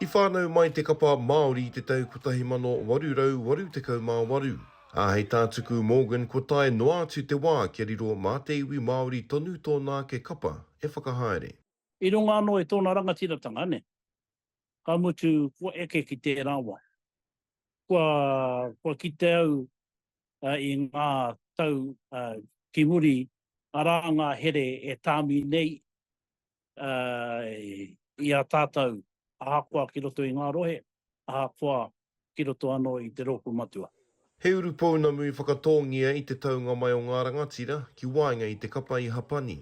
I whānau mai te kapa Māori i te tau 1888, ā, hei tā Tuku Morgan kua tae noa atu te wā kia riro mā te iwi Māori tonu tōna ake kapa e whakahaere. I runga anō i tōna rangatiratanga, ka mutu kua eke ki tērā wā. Kua kite au i ngā tau ki muri, arā ngā here e tāmi nei i a tātou ahakoa ki roto i ngā rohe, ahakoa ki roto anō i te rōpū matua. He uru pounamu i whakatōngia i te taunga mai o ngā rangatira ki waenga i te kapa i Hapani.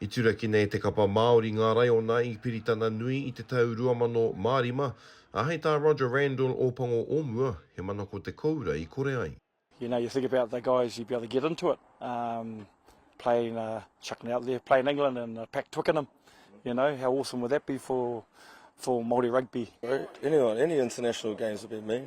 I turakina e te kapa Māori ngā raiona i Piritana Nui i te tau 2005, ā, hei tā Roger Randall, Ōpango o mua, he mana ko te koura i kore ai. You know, you think about the guys you'd be able to get into it, um, playing, uh, chucking it out there, playing England in the Pac Twickenham, you know, how awesome would that be for, for Māori rugby. Anyone, any international games would be mean.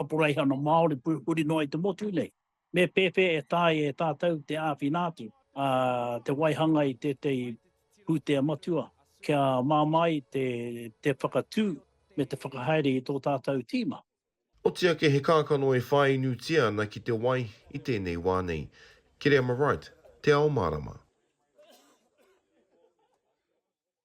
Kaporeihana Māori purupuri noa i te motu nei, me pēwhea e taea e tātou te āwhina atu te waihanga i tētahi pūtea matua kia māmā ai te whakatū me te whakahaere i tō tātou tīma. Oti ake he kākano e whāinutia ana ki te wai i tēnei wā nei. Kereama Wright, Te Ao Mārama.